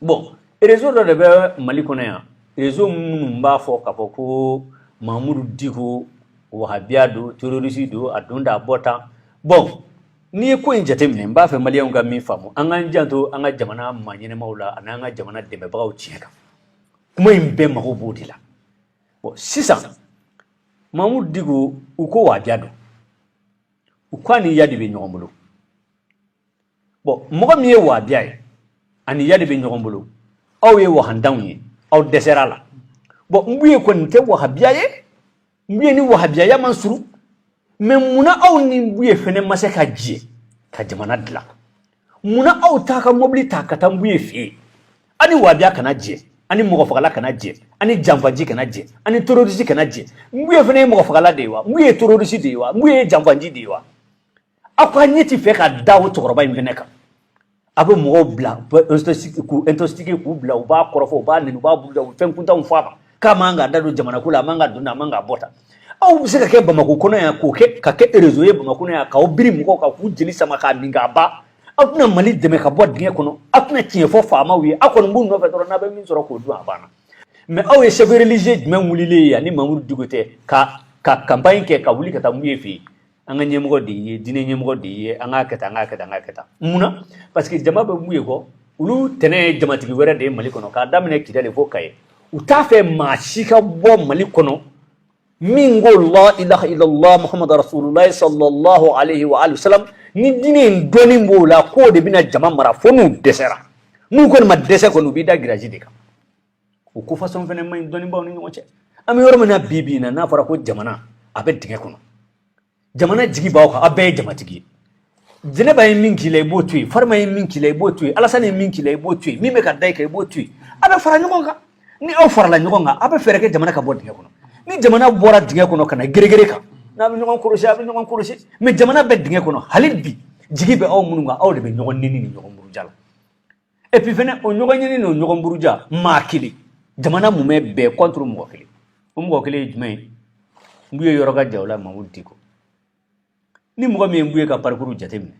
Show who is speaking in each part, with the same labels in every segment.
Speaker 1: bɔn rezo dɔ de bɛ mali kɔnɔ yan rezo minnu b'a fɔ k'a fɔ ko mamudu diko wahabiya don terorisi don a don da a bɔ tan bɔn n'i ye ko in jateminɛ n b'a fɛ maliyɛnw ka min faamu an k'an janto an ka jamana maa ɲɛnamaw la ani an ka jamana dɛmɛbagaw tiɲɛ kan kuma in bɛɛ mago b'o de la bɔn sisan mamudu diko u ko wahabiya don u ko a ni iyadi bɛ ɲɔgɔn bolo bɔn mɔgɔ min ye wabiya ye a ni iyadi bɛ ɲɔgɔn bolo aw ye wahandanw ye aw dɛsɛr'a la bɔn mbuye kɔni tɛ wahabiya ye mbuye ni wahabiyaya man surun mɛ munna aw ni mbuye fɛnɛ ma se ka jɛ ka jamana dilan munna aw t'a ka mɔbili ta ka taa mbuye fɛ yen aw ni wabiya kana jɛ ani mɔgɔ fagala kana jɛ ani janfanci kana jɛ ani terorisi kana jɛ mbuye fɛnɛ ye mɔgɔ fagala de ye wa mbuye terorisi de ye wa mbuye janfanci de ye wa aw ka ɲɛ ti fɛ ka da o cɛkɔrɔba in fɛnɛ kan a bɛ mɔgɔw bila k'u intoxiquer k'u bila u b'a kɔrɔfɔ u b'a nɛni u b'a buruja u bɛ fɛn kuntanw fɔ a kan k'a man ka da don jamanako la a man ka don a man ka bɔ tan aw bɛ se ka kɛ bamakɔ kɔnɔ yan k'o kɛ ka kɛ erezo ye bamakɔ kɔnɔ yan k'aw biri mɔgɔw kan k'u jeli sama k'a min k'a ban aw tɛna mali dɛmɛ ka bɔ dingɛ kɔnɔ aw tɛna tiɲɛ fɔ faamaw ye aw kɔni b'u nɔfɛ dɔrɔn n'a bɛ min sɔrɔ k'o dun a banna mɛ aw ye chef religieux jumɛn wulilen ye ni mamudu diko tɛ ka ka campagne kɛ ka wuli ka taa mbuye fɛ yen an ka ɲɛmɔgɔ de ye diinɛ ɲɛmɔgɔ de ye an k'a kɛ tan an k'a kɛ tan an k'a kɛ tan munna parce que jama bɛ mbuye kɔ olu tɛnɛ ye jamatigi wɛrɛ de ye mali kɔnɔ k'a daminɛ kidali fo kayi u t'a fɛ maa si ka bɔ mali kɔnɔ min ko la ilaha illallah muhammadu rasulullah sallallahu alaihi wa alihi wasallam ni diinɛ in dɔnni b'o la k'o de bɛna jama mara fo n'u dɛsɛra n'u kɔni ma dɛsɛ kɔni u b'i da giraji de kan o ko fasɔn fɛnɛ man ɲi dɔnnibaaw ni ɲɔgɔn cɛ an bɛ yɔrɔ min na bi bi in na n'a fɔra ko jamana a bɛ dingɛ kɔnɔ jamana jigi b'aw kan a bɛɛ ye jamatigi ye jɛnɛba ye min k'i la i b'o to yen farima ye min k'i la i b'o to yen alasani ye min k'i la i b'o to yen min bɛ ka da i kan i b'o to yen a bɛ fara ɲɔgɔn kan ni aw farala ɲɔgɔn kan a bɛ fɛɛrɛ kɛ jamana ka bɔ dingɛ kɔnɔ ni jamana bɔra dingɛ kɔnɔ ka na gɛrɛgɛrɛ kan n'a bɛ ɲɔgɔn kɔlɔsi a bɛ ɲɔgɔn kɔlɔsi mɛ jamana bɛ dingɛ kɔnɔ hali bi jigi bɛ aw minnu kan aw de bɛ ɲɔgɔn nɛni ni ɲɔgɔn buruja la et puis fɛnɛ o ɲɔgɔn nɛni n'o ɲɔgɔn buruja maa kelen jamana mumɛ bɛɛ contre mɔgɔ kelen o mɔgɔ kelen ye jumɛn ye mbuye yɔrɔ ka jan o la mamudu diko ni mɔgɔ min ye mbuye ka parikuru jateminɛ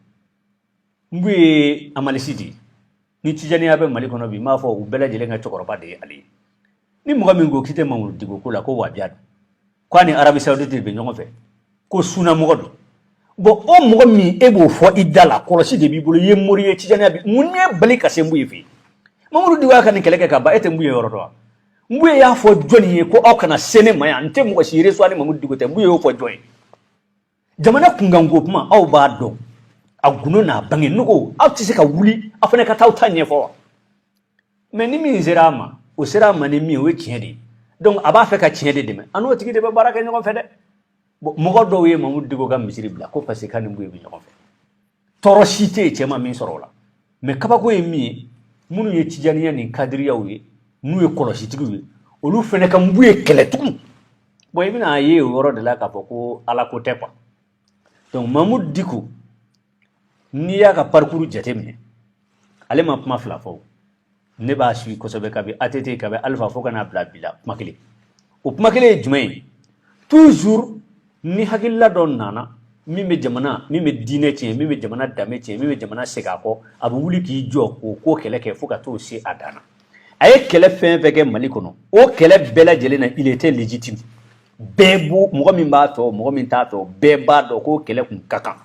Speaker 1: mbuye hamalisi de ni tijaniya bɛ mali kɔnɔ bi n b'a fɔ u bɛɛ lajɛlen ka cɛkɔrɔba de ye ale ye ni mɔgɔ min ko k'i tɛ mamudu diko ko la ko wabiya don k'a ni arabi saudite bɛ ɲɔgɔn fɛ ko sunamɔgɔ don bɔn o mɔgɔ min e b'o fɔ i da la kɔlɔsi de b'i bolo i ye mori ye tijaniya bi mun y'e bali ka se mbuye fɛ yen mamudu diko y'a ka nin kɛlɛ kɛ ka ban e tɛ mbuye yɔrɔ dɔn wa mbuye y'a fɔ jɔni ye ko aw kana se ne ma yan n tɛ mɔgɔ si resuwa ni mamudu diko tɛ mbuye y'o fɔ jɔn ye jamana kunkanko kuma aw b'a dɔn a gundo n'a bange nogo aw tɛ se ka wuli aw fana ka taa aw ta ɲɛfɔ wa mais ni min sera a ma o sera a ma ni min o ye tiɲɛ de ye donc a b'a fɛ ka tiɲɛ de dɛmɛ an n'o tigi de bɛ baara kɛ ɲɔgɔn fɛ dɛ bon mɔgɔ dɔw ye mamudu diko ka misiri bila ko parce que k'a ni nbuye bɛ ɲɔgɔn fɛ tɔɔrɔ si tɛ yen cɛ ma min sɔrɔ o la mais kabako ye min ye minnu ye tijaniya ni kadiriyaw ye n'u ye kɔlɔsitigiw ye olu fana ka nbuye kɛlɛ tugun bon i bɛn'a ye o yɔrɔ de la k'a fɔ ko ala ko tɛ quoi donc mamudu diko n'i y'a ka parcours jateminɛ ale ma kuma fila fɔ ne b'a suivi kosɛbɛ kabi ATT kabi Alpha fo ka n'a bila bi la kuma kelen o kuma kelen ye jumɛn ye toujours ni hakilila dɔ nana min bɛ jamana min bɛ diinɛ tiɲɛ min bɛ jamana danbe tiɲɛ min bɛ jamana segin a kɔ a bɛ wuli k'i jɔ k'o ko kɛlɛ kɛ fo ka t'o se a dan na a ye kɛlɛ fɛn fɛn kɛ mali kɔnɔ o kɛlɛ bɛɛ lajɛlen na il était légitime bɛɛ b'o mɔgɔ min b'a fɛ mɔgɔ min t'a fɛ bɛɛ b'a dɔn k'o kɛlɛ kun ka kan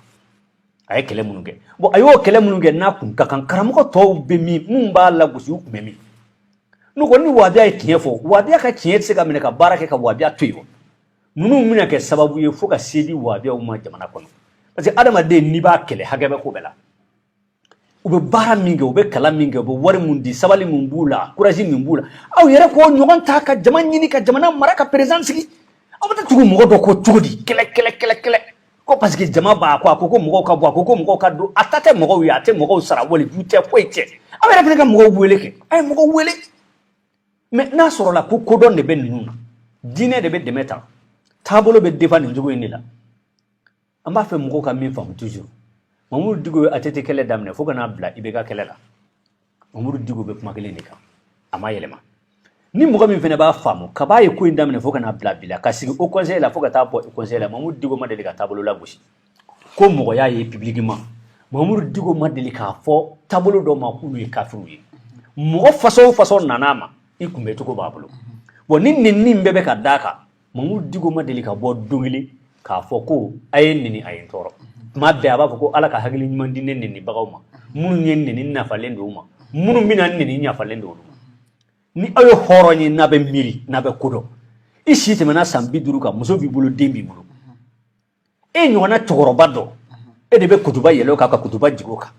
Speaker 1: a ye kɛlɛ minnu kɛ bon a y'o kɛlɛ minnu kɛ n'a kun ka kan karamɔgɔ tɔw bɛ min minnu b'a lagosi u kun bɛ min n'u ko ni wahabiya ye tiɲɛ fɔ wahabiya ka tiɲɛ tɛ se ka minɛ ka baara kɛ ka wahabiya to yen wa ninnu bɛna kɛ sababu ye fo ka se di wahabiyaw ma jamana kɔnɔ parce que adamaden n'i b'a kɛlɛ hakɛ bɛ ko bɛɛ la u bɛ baara min kɛ u bɛ kalan min kɛ u bɛ wari min di sabali min b'u la courage min b'u la aw yɛrɛ k'o ɲɔgɔn ta ka jama ɲini ka jamana mara ka président sigi aw bɛ taa tugu mɔgɔ dɔ kɔ cogo di kɛlɛ ko parce que jama b'a kɔ a ko ko mɔgɔw ka bɔ a ko ko mɔgɔw ka don a ta tɛ mɔgɔw ye a tɛ mɔgɔw sara waliju tɛ foyi tɛ aw yɛrɛ fana ka mɔgɔw wele kɛ a ye mɔgɔw wele mais n'a sɔrɔla ko kodɔn de bɛ ninnu na diinɛ de bɛ dɛmɛ ta taabolo bɛ défend nin cogo in de la an b'a fɛ mɔgɔw ka min faamu toujours mamudu diko ye ATT kɛlɛ daminɛ fo ka n'a bila IBK kɛlɛ la Mamudu Diko bɛ kuma kelen de kan a ma yɛlɛma ni mɔgɔ min fana b'a faamu kab'a ye ko in daminɛ fo ka n'a bila bi la ka sigi Haut Conseil la fo ka taa bɔ Haut Conseil la Mamudu Diko ma deli ka taabolo lagosi ko mɔgɔ y'a ye publiquement Mamudu Diko ma deli k'a fɔ taabolo dɔw ma k'olu ye kafiriw ye mɔgɔ façon o façon nan'a ma i kunbɛcogo b'a bolo bon ni nɛni in bɛɛ bɛ ka d'a kan mamudu diko ma deli ka bɔ don kelen k'a fɔ ko a ye n nɛni a ye n tɔɔrɔ tuma bɛɛ a b'a fɔ ko ala ka hakili ɲuman di ne nɛnibagaw ma minnu ye n nɛni n yafalen don u ma minnu bɛna n nɛni n yafalen don olu ma ni aw ye hɔrɔn ye n'a bɛ miiri n'a bɛ ko dɔn i si tɛmɛna san bi duuru kan muso b'i bolo den b'i bolo e ɲɔgɔnna cɛkɔrɔba dɔ e de bɛ kutuba yɛlɛn o kan ka kutuba jigin o kan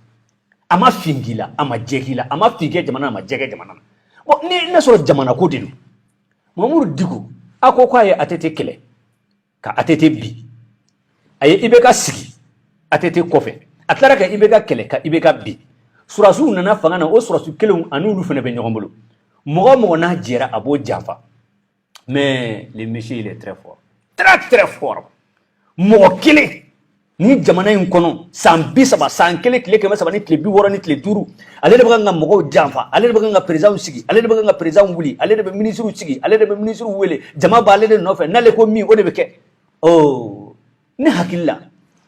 Speaker 1: a ma fin k'i la a ma jɛ k'i la a ma fin kɛ jamana a ma jɛ kɛ jamana na bon ni n'a sɔrɔ jamana ko de don mamudu diko a ko k'a ye ATT kɛlɛ ka ATT bin a ye IBK sigi ATT kɔfɛ a tilara ka IBK kɛlɛ ka IBK bin sɔrɔdasiw nana fanga na o sɔrɔdasi kelenw ani olu fana bɛ ɲɔgɔn bolo mɔgɔ o mɔgɔ n'a jɛra a b'o janfa mais le monsieur il est très fort très très fort mɔgɔ kelen ni jamana in kɔnɔ san bi saba san kelen tile kɛmɛ saba ni tile bi wɔɔrɔ ni tile duuru ale de bɛ kan ka mɔgɔw janfa ale de bɛ kan ka perezanw sigi ale de bɛ kan ka perezanw wuli ale de bɛ minisiriw sigi ale de bɛ minisiriw wele jama b'ale de nɔfɛ n'ale ko min o de bɛ kɛ ɔ ne hakili la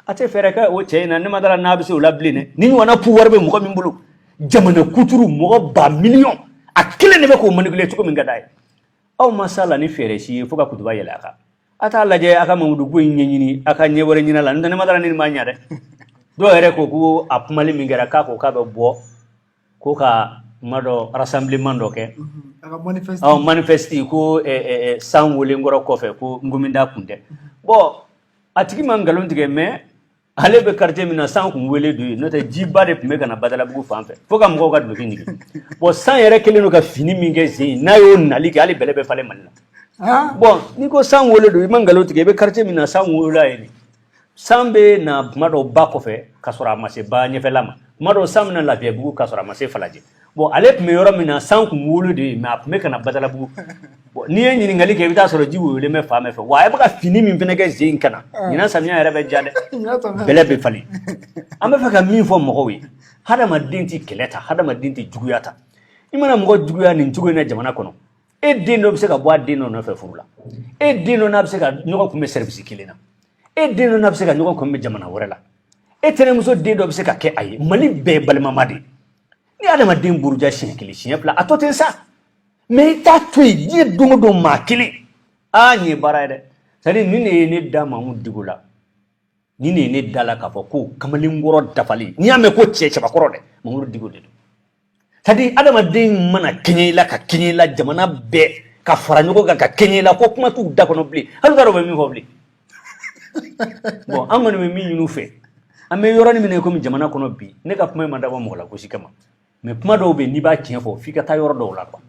Speaker 1: a tɛ fɛɛrɛ kɛ o cɛ in na ne ma dara n'a bɛ se o la bilen dɛ nin ɲɔgɔnna pouvoir bɛ mɔgɔ min bolo jamana kuturu mɔgɔ ba miliyɔn a kelen de bɛ k'o manipuler cogo min ka d'a ye aw ma s'a la ni fɛɛrɛ si ye fo ka kutuba yɛlɛ a kan a t'a lajɛ a ka mamudu ko in ɲɛɲini a ka ɲɛ wɛrɛ ɲini a la n'o tɛ ne ma dara ni nin ma ɲa dɛ dɔw yɛrɛ ko ko a kumali min kɛra k'a ko k'a bɛ bɔ ko ka kuma dɔ rassemblement dɔ kɛ a ka manifeste ɔ manifesti ko eh, eh, eh, san welenkɔrɔ kɔfɛ ko nkominda kun tɛ bon a tigi ma nkalon tigɛ mais ale bɛ quartier min na san kun wele don yen n'o tɛ jiba de tun bɛ ka na badalabugu fan fɛ fo ka mɔgɔw ka duloki ɲigin bon san yɛrɛ kɛlen don ka finni min kɛ sen in n'a y'o nali kɛ hali bɛlɛ bɛ falen mali la bon n'i ko san wele don i ma nkalon tigɛ i bɛ quartier min na san wolola yen de san bɛ na tuma dɔw ba kɔfɛ ka sɔrɔ a ma se ba ɲɛfɛla ma tuma dɔw san bɛ na lafiyabugu ka sɔrɔ a ma se falajɛ bon ale tun bɛ yɔrɔ min na san tun wolo de ye mais a tun bɛ ka na Badalabugu bon n'i ye ɲininkali kɛ i bɛ taa sɔrɔ ji woyolen bɛ fan bɛɛ fɛ wa a bɛ ka finni min fana kɛ sen in kan na ɲinan samiya yɛrɛ bɛ diya dɛ bɛlɛ bɛ falen an bɛ fɛ ka min fɔ mɔgɔw ye hadamaden tɛ kɛlɛ tan hadamaden tɛ juguya tan i mana mɔgɔ juguya nin cogo in na jamana kɔnɔ e den dɔ bɛ se ka bɔ a den dɔ nɔfɛ furu la e den dɔ n'a bɛ se ka ɲɔgɔn kunbɛn sɛribisi kelen na e den dɔ n'a bɛ se ka ɲɔgɔn kunbɛn jamana wɛrɛ la e tɛnɛmuso den dɔ bɛ se ka kɛ a ye mali bɛɛ ye balimama de ye ni adamaden buruja siɲɛ kelen siɲɛ fila a to ten sa mais i t'a to yen diɲɛ don o don maa kelen aa nin ye baara ye dɛ c'est-à-dire nin de ye ne da mamudu diko la nin de ye ne da la k'a fɔ ko kamalenkɔrɔ dafalen n'i y'a mɛn ko cɛ cɛbakɔrɔ dɛ mamudu diko de don c'est-à-dire adamaden mana kɛɲɛ i la ka kɛɲɛ i la jamana bɛɛ ka fara ɲɔgɔn kan ka kɛɲɛ i la ko kuma t'u da kɔnɔ bilen hali u t'a dɔn u bɛ min fɔ bilen bon an kɔni bɛ min ɲini u fɛ an bɛ yɔrɔnin min na komi jamana kɔnɔ bi ne ka kuma in ma dabɔ mɔgɔ lagosi kama mais kuma dɔw bɛ yen n'i b'a tiɲɛ fɔ f'i ka taa yɔrɔ dɔw la quoi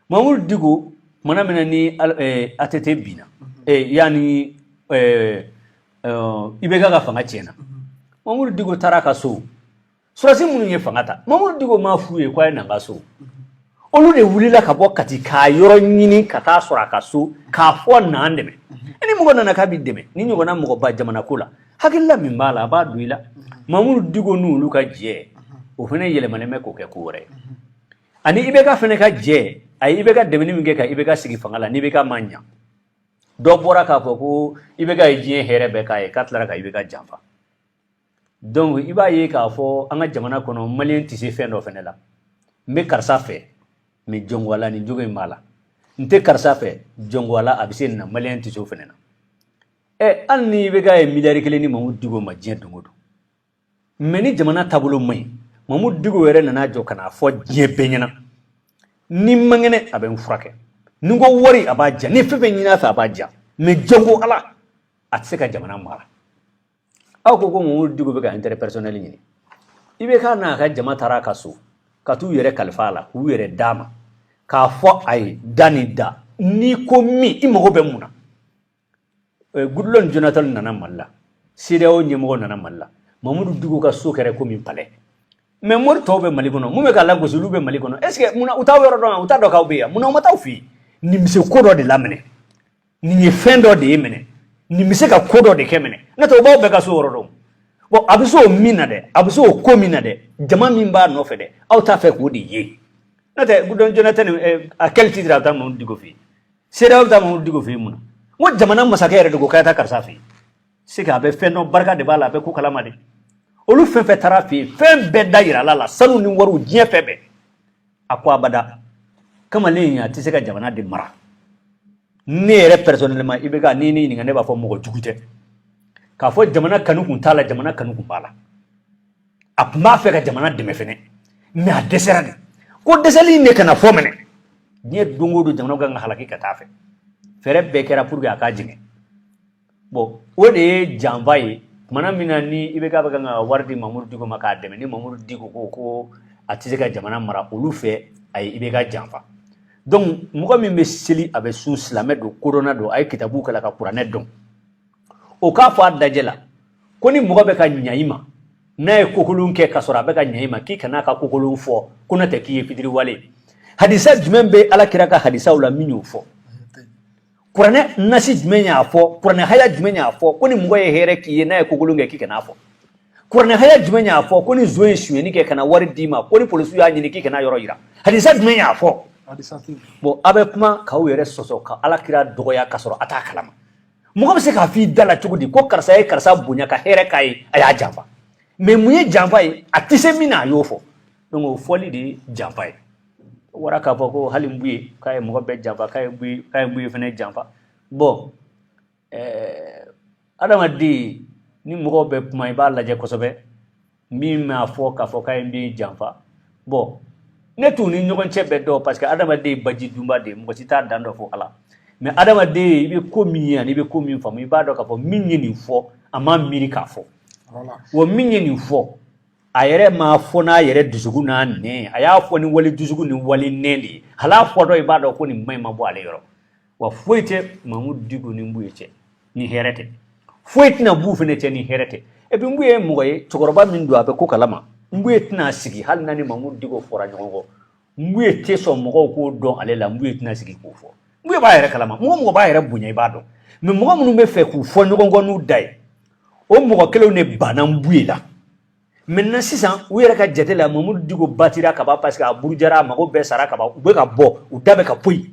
Speaker 1: mamudu diko kumana min na ni ATT eh, binna eh, yanni eh, IBK ka fanga tiɲɛna mamudu diko taara a ka so Sɔrɔdasi minnu ye fanga ta Mamadu Diko m'a f'u ye ko a ye na n ka so olu de wulila ka bɔ Kati k'a yɔrɔ ɲini ka taa sɔrɔ a ka so k'a fɔ na an dɛmɛ ni mɔgɔ nana k'a b'i dɛmɛ nin ɲɔgɔnna mɔgɔba jamanako la hakilila min b'a la a b'a don i la Mamadu Diko n'olu ka jɛ o fana yɛlɛmalen bɛ k'o kɛ ko wɛrɛ ye ani IBK fana ka jɛ a ye IBK dɛmɛni min kɛ ka IBK sigi fanga la ni IBK ma ɲa dɔ bɔra k'a fɔ ko IBK ye diɲɛ hɛrɛ bɛɛ k'a ye k'a tilara ka IBK janfa donc i b'a ye k'a fɔ an ka jamana kɔnɔ maliyɛn tɛ se fɛn dɔ fana la n bɛ karisa fɛ mais jɔn ko ala nin jogo in b'a la n tɛ karisa fɛ jɔn ko ala a bɛ se nin na maliyɛn tɛ se o fana na ɛ hali ni ibk ye miliyari kelen di mamudu diko ma diɲɛ don o don mais ni jamana taabolo man ɲi mamudu diko yɛrɛ nana jɔ ka n'a fɔ diɲɛ bɛɛ ɲɛna ni n man kɛnɛ a bɛ n furakɛ ni n ko wari a b'a di yan ni fɛn fɛn ɲin'a fɛ a b'a di yan mais jɔn ko ala a tɛ se ka jamana mara aw ko ko mamudu diko bɛ ka intérêt personnel ɲini ibk n'a ka jama taara a ka so ka t'u yɛrɛ kalifa a la k'u yɛrɛ d'a ma k'a fɔ a ye da ni da n'i ko min i mago bɛ mun na goodluck jonathan nana mali la cedeao ɲɛmɔgɔ nana mali la mamudu diko ka so kɛra komi palais mais mori tɔw bɛ mali kɔnɔ min bɛ k'a lagosi olu bɛ mali kɔnɔ est ce que mun na u t'aw yɔrɔ dɔn wa u t'a dɔn k'aw bɛ yan mun na u ma taa aw fɛ yen nin bɛ se ko dɔ de la minɛ nin ye fɛn dɔ de ye minɛ nin bɛ se ka ko dɔ de kɛ minɛ n'o tɛ u b'aw bɛɛ ka so yɔrɔ dɔn bon a bɛ se o min na dɛ a bɛ se o ko min na dɛ jama min b'a nɔfɛ dɛ aw t'a fɛ k'o de ye n'o tɛ goodluck jonathan à quel titre a bɛ taa mamudu diko fɛ yen cedeao bɛ taa mamudu diko fɛ yen mun na n ko jamana masakɛ yɛrɛ de ko k'a taa karisa fɛ yen c'est que a bɛ fɛn dɔn barika de b'a la a bɛ ko kalama de olu fɛn fɛn taara a fɛ yen fɛn bɛɛ da yira a la sanu ni wariw diɲɛ fɛn bɛɛ a ko abada kamalen a tɛ se ka jamana de mara ne yɛrɛ personnellement ibk ni ne ɲininka ne b'a fɔ mɔgɔ jugu tɛ k'a fɔ jamana kanu kun t'a la jamana kanu kun b'a la a kun b'a fɛ ka jamana dɛmɛ fɛnɛ mais a dɛsɛra de ko dɛsɛli in de kana fɔ minɛ diɲɛ don o don jamana kan ka halaki ka t'a fɛ fɛɛrɛ bɛɛ kɛra pour que a ka jigin bon o de ye janfa ye tumana min na ni ibk bɛ kan ka wari di mamuru diko ma k'a dɛmɛ ni mamuru diko ko ko a tɛ se ka jamana mara olu fɛ a ye ibk janfa donc mɔgɔ min bɛ seli a bɛ sun silamɛ don kodɔnna don a ye kitabu kalan ka kuranɛ dɔn o k'a fɔ a dajɛ la ko ni mɔgɔ bɛ ka ɲa i ma n'a ye kokolon kɛ ka sɔrɔ a bɛ ka ɲa i ma k'i kana a ka kokolon fɔ ko n'o tɛ k'i ye fitiriwale hadisa jumɛn bɛ ala kira ka hadisaw la min y'o fɔ kuranɛ nasi jumɛn y'a fɔ kuranɛ haya jumɛn y'a fɔ ko ni mɔgɔ ye hɛrɛ k'i ye n'a ye kokolon kɛ k'i kan'a fɔ kuranɛ haya jumɛn y'a fɔ ko ni zon ye sonyɛni kɛ ka na wari d'i ma ko ni polisiw y'a ɲini k'i kan'a yɔrɔ yira hadisa jumɛn y'a fɔ bon a bɛ kuma k'aw yɛrɛ sɔsɔ ka ala kira dɔgɔya ka sɔrɔ a t'a kalama mɔgɔ bɛ se k'a f'i da la cogo di ko karisa ye karisa bonya ka hɛrɛ k'a ye a y'a janfa mais mun ye janfa ye a tɛ se min na a y'o fɔ donc o fɔli de ye janfa ye o bɔra k'a fɔ ko hali mbuye k'a ye mɔgɔ bɛɛ janfa k'a ye mbuye k'a ye mbuye fɛnɛ janfa bon ɛɛ adamaden ni mɔgɔw bɛ kuma i b'a lajɛ kosɛbɛ min m'a fɔ k'a fɔ k'a ye mbuye janfa bon ne t'u ni ɲɔgɔn cɛ bɛɛ dɔn parce que adamaden ye baji dunba de ye mɔgɔ si t'a dan dɔn fo ala mais adamaden i bɛ ko min ye ani i bɛ ko min faamu i b'a dɔn k'a fɔ min ye nin fɔ a m'a miiri k'a fɔ wa min ye nin fɔ a yɛrɛ m'a fɔ n'a yɛrɛ dusukun n'a nɛn a y'a fɔ ni wali dusukun ni wali nɛn de ye hal'a fɔtɔ i b'a dɔn ko nin maɲi ma bɔ ale yɔrɔ wa foyi tɛ mamudu diko ni mbuye cɛ ni hɛrɛ tɛ foyi tɛna b'u fɛnɛ cɛ ni hɛrɛ tɛ et puis mbuye ye mɔgɔ ye cɛkɔrɔba min don a bɛ ko kalama mbuye tɛna sigi hali n'a ni mamudu diko fɔra ɲɔgɔn kɔ mbuye tɛ sɔn mɔgɔw k'o dɔn ale la mbuye tɛna sigi k'o fɔ mbuye b'a yɛrɛ kalama mɔgɔ mɔgɔ b'a yɛrɛ bonya i b'a dɔn mais mɔgɔ minnu b'a fɛ k'u fɔ ɲɔgɔn kɔ n'u da ye o mɔgɔ kelenw de banna mbuye la maintenant sisan u yɛrɛ ka jate la mamudu diko batira ka ban parce que a burujara a mago bɛɛ sara ka ban u bɛ ka bɔ u da bɛ ka poyi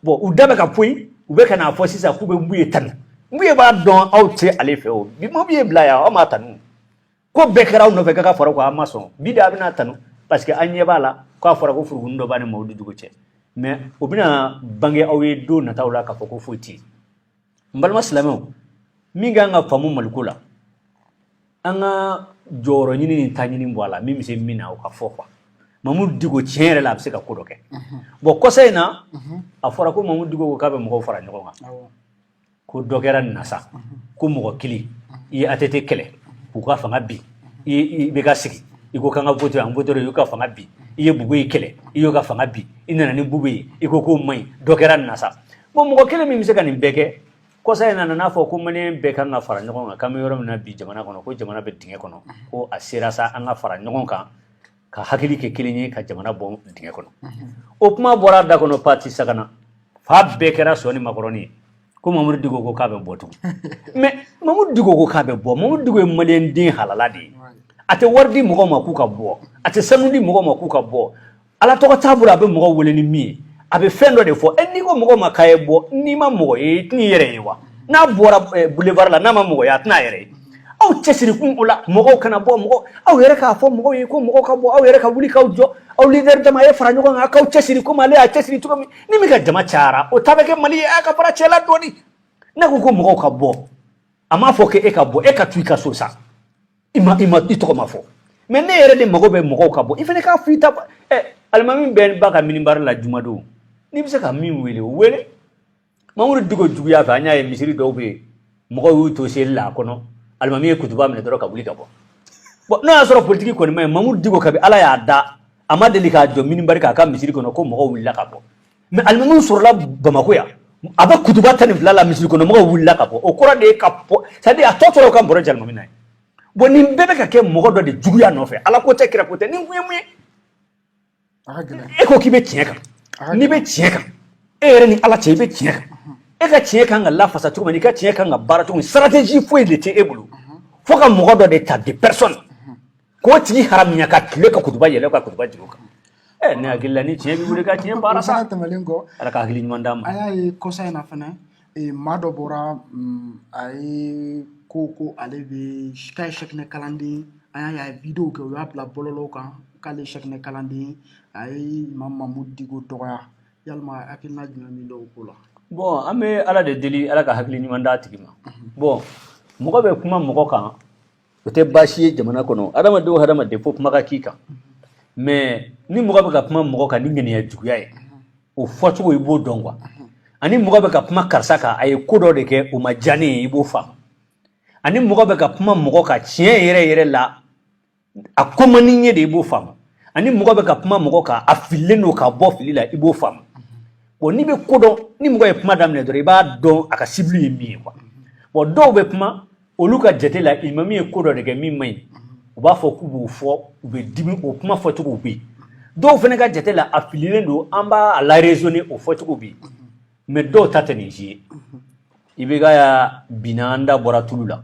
Speaker 1: bon u da bɛ ka poyi u bɛ ka n'a fɔ sisan k'u bɛ mbuye tanu mbuye b'a dɔn aw tɛ ale fɛ o bi mbuye bila yan aw m'a tanu ko bɛɛ kɛra aw nɔfɛ k'a ka fara ko a ma sɔn bi de aw bɛn'a tanu parce que an ɲɛ b'a la k'a fɔra ko furukunin dɔ b'a ni mamudu diko cɛ mais o bɛna bange aw ye don nataw la k'a fɔ ko foyi tɛ yen n balima silamɛw min ka kan ka faamu mali ko la an ka jɔyɔrɔ ɲini ni ta ɲini bɔ a la min bɛ se min na o k'a fɔ quoi mamudu diko tiɲɛ yɛrɛ la a bɛ se ka ko dɔ kɛ bon kɔsa in na a fɔra ko mamudu diko ko k'a bɛ mɔgɔw fara ɲɔgɔn kan ko dɔ kɛra an na sa ko mɔgɔ kelen i ye ATT kɛlɛ k'o ka fanga bin i ye IBK sigi i ko k'an ka vote an vote i y'o ka fanga bin i ye bubɛyi kɛlɛ i y'o ka fanga bin i nana ni bubu ye i ko k'o man ɲi dɔ kɛra an na sa bon mɔgɔ kelen min bɛ se ka nin bɛɛ kɛ kɔsa in na nan'a fɔ ko maliyɛn bɛɛ kan ka fara ɲɔgɔn kan k'an bɛ yɔrɔ min na bi jamana kɔnɔ ko jamana bɛ dingɛ kɔnɔ ko a sera sa an ka fara ɲɔgɔn kan ka hakili kɛ kelen ye ka jamana bɔ dingɛ kɔnɔ o kuma bɔra da kɔnɔ patisakana fan bɛɛ kɛra sɔ ni makɔrɔni ye ko mamudu diko ko k'a bɛ bɔ tugun mais mamudu diko ko k'a bɛ bɔ mamudu diko ye maliyɛn den halala de ye a tɛ wari di mɔgɔw ma k'u ka bɔ a tɛ sanu di mɔgɔw ma k'u ka bɔ ala tɔgɔ t'a bolo a bɛ mɔgɔw wele ni min ye a bɛ fɛn dɔ de fɔ e n'i ko mɔgɔ ma k'a ye bɔ n'i ma mɔgɔ ye i tɛn'i yɛrɛ ye wa n'a bɔra boulevard la n'a ma mɔgɔ ye a tɛna a yɛrɛ ye aw cɛ siri kun o la mɔgɔw kana bɔ mɔgɔ aw yɛrɛ k'a fɔ mɔgɔw ye ko mɔgɔw ka bɔ aw yɛrɛ ka wuli k'aw jɔ aw leader dama ye fara ɲɔgɔn kan k'aw cɛ siri komi ale y'a cɛ siri cogo min ni min ka jama cayara o ta bɛ kɛ mali ye a ka fara cɛla dɔɔni ne ko ko mɔgɔw ka bɔ a m'a fɔ k'e ka bɔ e ka to i ka so sa i ma i ma i tɔgɔ ma fɔ mais ne yɛrɛ de mago bɛ mɔgɔw ka bɔ i fana k'a fɔ i ta ɛ alimami bɛɛ b'a ka minibari la jumadon n'i bɛ se ka min wele o wele mamuru diko juguya fɛ an y'a ye misiri dɔw bɛ yen mɔgɔw y'u to seli la a kɔnɔ alimami ye kutuba minɛ dɔrɔn ka wuli ka bɔ bon n'o y'a sɔrɔ politiki kɔni man ɲi mamuru diko kabi ala y'a da a ma deli k'a jɔ minibari kan a ka misiri kɔnɔ ko mɔgɔw wulila ka bɔ mais alimami sɔrɔla bamakɔ yan a bɛ kutuba tan ni fila la misiri kɔnɔ mɔgɔw wulila ka bɔ o kɔrɔ de ye ka bɔ c'est-à-dire a tɔ tora ka bɔrɔ jalimami na ye bon nin bɛɛ bɛ ka kɛ mɔgɔ dɔ de juguya nɔfɛ ala ko tɛ kira ko tɛ nin kun ye mun ye e ko k'i bɛ tiɲɛ kan n'i bɛ tiɲɛ kan e yɛrɛ ni ala cɛ i bɛ tiɲɛ kan e ka tiɲɛ kan ka lafasa cogo min n'i ka tiɲɛ kan ka baara cogo min stratégie foyi de tɛ e bolo fo ka mɔgɔ dɔ de ta de personne k'o tigi haramuya ka tile ka kutuba yɛlɛ ka kutuba jigin o kan ɛ ne hakili la ni tiɲɛ b'i bolo i ka tiɲɛ baara sa tɛmɛlen kɔ ala ka hakili
Speaker 2: ɲuman d'a ma a
Speaker 1: y'a ye kɔsa in na
Speaker 2: fana ee maa dɔ bɔra mm, a ye ko ko ale bɛ k'a ye sɛkinɛ kalanden an y'a ye a ye vidéo kɛ u y'a bila bɔlɔlɔw kan k'ale ye sɛkinɛ kalanden a ye imam mamudu diko dɔgɔya yalima hakilina jumɛn b'i la o ko la bon an bɛ
Speaker 1: ala de deli ala ka hakili ɲuman d'a tigi ma bon mɔgɔ bɛ kuma mɔgɔ kan o tɛ baasi ye jamana kɔnɔ hadamaden o hadamaden fo kuma ka k'i kan mais ni mɔgɔ bɛ ka kuma mɔgɔ kan ni ŋaniya juguya ye o fɔcogo i b'o dɔn quoi ani mɔgɔ bɛ ka kuma karisa kan a ye ko dɔ de kɛ o ma diya ne ye i b'o faamu ani mɔgɔ bɛ ka kuma mɔgɔ kan tiɲɛ yɛrɛ yɛrɛ la a ko man di n ye de i b'o faamu ani mɔgɔ bɛ ka kuma mɔgɔ kan a fililen don ka bɔ fili la i b'o faamu bon n'i bɛ ko dɔn ni mɔgɔ ye kuma daminɛ dɔrɔn i b'a dɔn a ka cible ye min ye quoi bon dɔw bɛ kuma olu ka jate la imam ye ko dɔ de kɛ min man ɲi u b'a fɔ k'u b'o fɔ u bɛ dimi o kuma fɔcogo bɛ yen dɔw fana ka jate la a fililen don an b'a laraisonner o fɔcogo bɛ yen mais dɔw ta tɛ nin si ye IBK ya binna an da bɔra tulu la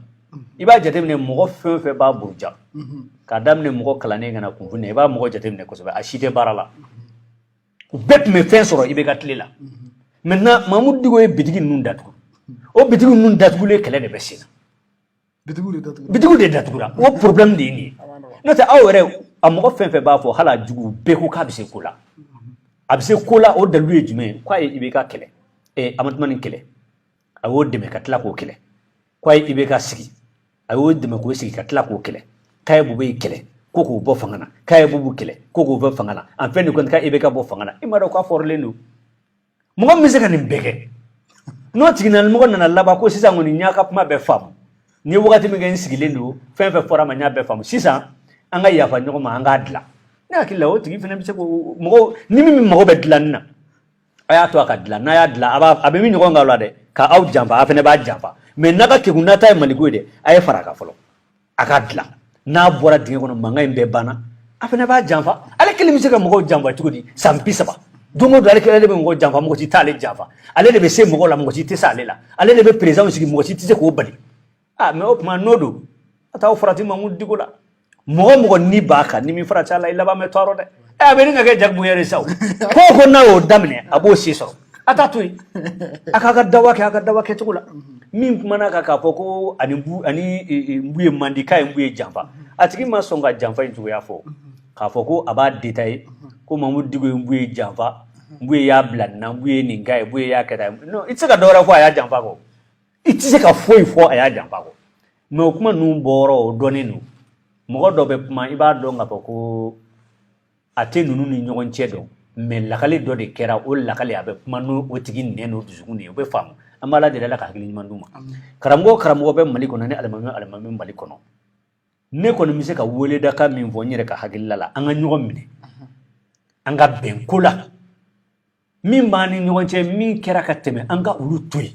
Speaker 1: i b'a jateminɛ mɔgɔ fɛn o fɛn b'a buruja k'a daminɛ mɔgɔ kalannen ka na kunfin na i b'a mɔgɔ jateminɛ kosɛbɛ a si tɛ baara la u bɛɛ tun bɛ fɛn sɔrɔ IBK tile la maintenant mamudu diko ye bitigi ninnu datugu o bitigi ninnu datugulen kɛlɛ de bɛ senna bitigiw de datugura o problème de ye nin ye n'o tɛ aw yɛrɛ a mɔgɔ fɛn fɛn b'a fɔ hali a jugu bɛɛ ko k'a bɛ se ko la a bɛ se ko la o dalilu ye jumɛn ye k'a ye IBK kɛlɛ amatumani kɛlɛ a y'o dɛmɛ ka tila k'o kɛlɛ ko IBK sigi a y'o dɛmɛ k'o sigi ka tila k'o kɛlɛ k'a ye bubeyi kɛlɛ ko k'o bɔ fanga na k'a ye bubu kɛlɛ ko k'o bɔ fanga na en fin de compte ka IBK bɔ fanga na i m'a dɔn k'a fɔrilen don mɔgɔ min bɛ se ka nin bɛɛ kɛ n'o tigilamɔgɔ nana laban ko sisan kɔni n y'a ka kuma bɛɛ faamu n ye wagati min kɛ n sigilen don fɛn fɛn fɔra n ma n y'a bɛɛ faamu sisan an ka yafa ɲɔgɔn ma an k'a dilan ne hakili la o tigi fana bɛ se ko mɔgɔw ni min mago bɛ dilanni na a y'a to a ka dilan n'a y'a dilan a b'a a bɛ bin ɲɔgɔn kan o la dɛ ka aw janfa a fana b'a janfa mɛ n'a ka kegun n'a ta ye maliko ye dɛ a ye fara a kan fɔlɔ a k'a dilan n'a bɔra dingɛ kɔnɔ mankan in bɛɛ banna a fana b'a janfa ale kelen bɛ se ka mɔgɔw janfa cogo di san bi saba don o don ale kelen de bɛ mɔgɔ janfa mɔgɔ si t'ale janfa ale de bɛ se mɔgɔ la mɔgɔ si tɛ se ale la ale de bɛ perezidanw sigi mɔgɔ si tɛ se k'o bali aa mɛ o tuma n'o don a t'a farati mamudu diko la mɔgɔ mɔgɔ ni b'a kan n'i m'i farati a la i laban bɛ tɔɔrɔ dɛ ɛ a bɛ ni ka kɛ jagoya de sa ko ko n'a y'o daminɛ a b'o si sɔrɔ a t'a to yen a k'a ka dawa kɛ a ka dawa kɛcogo la min kumana kan k'a fɔ ko a ni bu a ni buye man di k'a ye buye janfa a tigi ma sɔn ka janfa in cogoya fɔ k'a fɔ ko a b'a detaye ko mamudu diko ye buye janfa buye y'a bila nin na buye nin k'a ye buye y'a kɛ tan ye non i tɛ se ka dɔ wɛrɛ fɔ a y'a janfa kɔ i tɛ se ka foyi fɔ a y'a janfa kɔ mɛ o kuma ninnu bɔyɔrɔ o dɔnnen don mɔgɔ dɔ bɛ kuma i b'a dɔn k'a fɔ ko a tɛ ninnu ni ɲɔgɔn cɛ dɔn mɛ lakali dɔ de kɛra o lakali a bɛ kuma n'o tigi nɛn n'o dusukun de ye o bɛ faamu an b'ala deli ala ka hakili ɲuman d'u ma karamɔgɔ karamɔgɔ bɛ mali kɔnɔ ni alimami alimami mali kɔnɔ ne kɔni bɛ se ka weledaka min fɔ n yɛrɛ ka hakilila la an ka ɲɔgɔn minɛ an ka bɛn ko la min b'an ni ɲɔgɔn cɛ min kɛra ka tɛmɛ an ka olu to yen